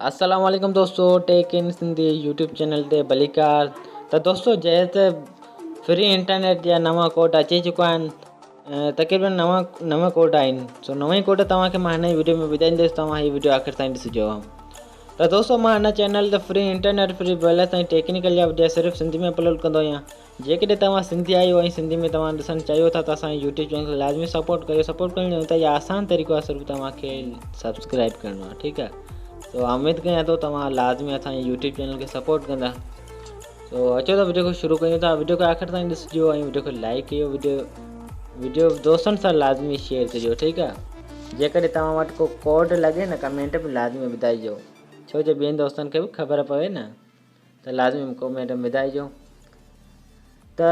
السلام عليڪم دوستو tech in Sindhi YouTube channel تي ڀليڪار ته دوستو جنهن تي فري انٽرنيٽ جا نوان ڪوڊ اچي چڪا آهن تقريبن نو نو ڪوڊ آهن سو نو ئي ڪوڊ توهان کي مان هن ويڊيو ۾ ٻڌائيندس توهان هي ويڊيو آخر تائين ڏسجو ته دوستو مان هن چينل تي free internet free balance ۽ technical جا وڊيو صرف سنڌي ۾ اپلوڊ ڪندو آهيان جيڪڏهن توهان سنڌي آهيو ۽ سنڌي ۾ توهان ڏسڻ چاهيو ٿا ته اسان جي يوٽيوب چينل کي لازمي سپورٽ ڪريو سپورٽ ڪرڻ جو انتهائي آسان طريقو آهي صرف توهان کي سبسڪرائب ڪرڻو آهي ٺيڪ آهي سو اميد ڪيان ٿو توهان لازمي اسان جي يوٽيوب چينل کي سپورٽ ڪندا سو اچو ته وڊيو کي شروع ڪيون ٿا وڊيو کي آخر تائين ڏسجو ۽ وڊيو کي لائڪ ڪيو وڊيو وڊيو دوستن سان لازمي شيئر ڪجو ٺيڪ آهي جيڪڏهن توهان وٽ ڪو ڪوڊ لڳي نه ڪمينٽ ۾ لازمي ٻڌائجو ڇو جو ٻين دوستن کي به خبر پوي نه ته لازمي مون کي ميڊم ٻڌائجو ته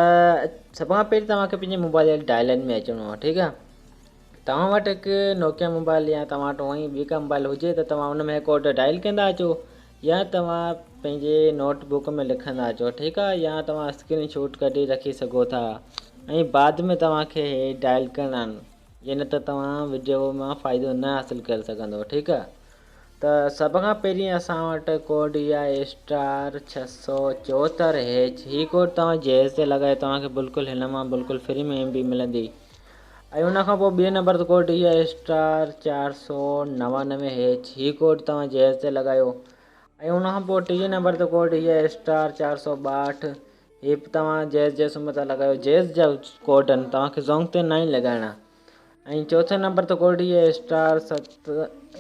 سڀ کان پهرين توهان کي پنهنجي موبائل جي ڊائل ان ۾ اچڻو آهي ٺيڪ آهي توهان وٽ هڪ نوڪيا موبائل يا توهان وٽ هونئي ٻي ڪا موبائل هجي ته توهان ان ۾ ڪوڊ ڊائل ڪندا اچو يا توهان پنهنجي نوٽ بڪ ۾ لکندا اچو ٺيڪ آهي يا توهان اسڪرين شوٽ ڪڍي رکي سگهو ٿا ۽ بعد ۾ توهان کي هي ڊائل ڪرڻا آهن ائين نه ته توهان وڊيو مان فائدو نه حاصل ڪري سگهندو ٺيڪ آهي ته سڀ کان پهرين اسان وٽ ڪوڊ اي آء اسٽار ڇهه سؤ چوهتر هيچ هي ڪوڊ توهان جهيز تي لڳائي توهان کي بلڪل هن مان بلڪل فري ۾ ايم بي ملندي ۽ ان کان پوء ٻئي نمبر تي ڪوڊ اي آء اسٽار چار سؤ نوانوي هيچ هي ڪوڊ توهان جهيز تي لڳايو ۽ ان کان پوء ٽئي نمبر تي ڪوڊ اي آء اسٽار چار سؤ ٻاهٺ هي به توهان جهيز جي سم تان لڳايو جهيز جا ڪوڊن توهان کي زونگ تي ناهي لڳائڻا. ۽ چوٿين نمبر تي ڪورڊي اي اسٽار ست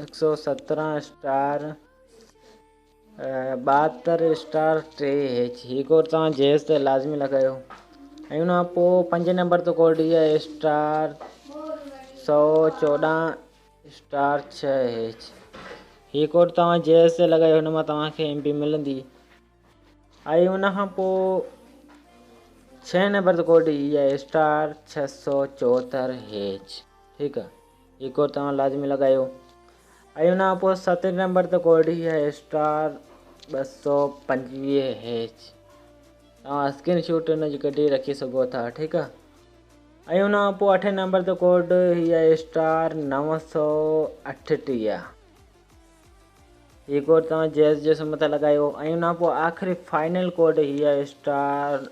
هڪ سؤ سترهن اسٽار ٻاهتر اسٽار ٽي ايچ هي ڪوڊ توهان جيز تي لازمي لڳايو ۽ ان کان پوء پنجين نمبر تي ڪوڊ اي اسٽار سؤ چوڏهن اسٽار ڇهه ايچ هي ڪوڊ توهان جيز تي لڳايو هن مان توهان کي ايم بي ملندي ۽ ان کان پوء ڇهين نمبر تي ڪوڊ هي آهي اسٽار ڇهه سؤ چوهتر هيچ ٺيڪ آ هي ڪوڊ توهان لازمي لڳايو ۽ ان کان پوء ستين نمبر تي ڪوڊ هي آهي اسٽار ٻه سؤ پنجويهه هيچ توهان اسڪرين شوٽ ان جي ڪڍي رکي سگهو ٿا ٺيڪ آ ۽ ان کان پوء اٺين نمبر تي ڪوڊ هي آهي اسٽار نو سؤ اٺ ٽيهه هي ڪورڊ توهان جيز جي سم تي لڳايو ۽ ان کان پوء آخري فائنل ڪورڊ هي آهي اسٽار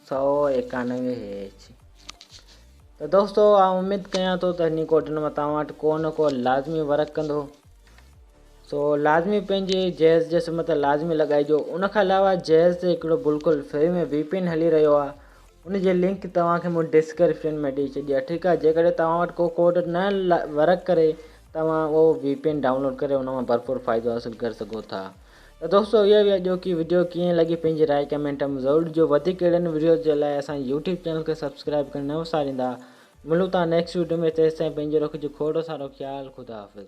سؤ ايڪانوي هيچ. ته دوستو آئون اميد ڪيان ٿو ته هني ڪورڊن مان توهان وٽ ڪو نه ڪو لازمي ورڪ ڪندو سو لازمي پنهنجي جيز جي سم تي لازمي لڳائجو ان کان علاوه جيز تي هڪڙو بلڪل فري ۾ وي پين هلي رهيو آهي ان جي لنڪ توهان کي مون ڊسڪرپشن ۾ ڏئي ڇڏي آهي ٺيڪ آهي جيڪڏهن توهان وٽ ڪو ڪوڊ نه ورڪ ڪري توهان اهو وي پي اين ڊائونلوڊ ڪري ان مان ڀرپور فائدو حاصل ڪري سگهو ٿا ته دوستو اها هئي اڄوڪي وڊيو ڪيئن لڳي پنهنجي راء ڪمينٽ ۾ ضرور ڏجو وڌيڪ اهڙن وڊيوز جي لاء اسان جي يوٽيوب چينل کي سبسڪرائب ڪرڻ نه وساريندا ملون ٿا نيڪسٽ وڊيو ۾ تيستائين پنهنجو رکجو کوڙو سارو خيال خدا حافظ.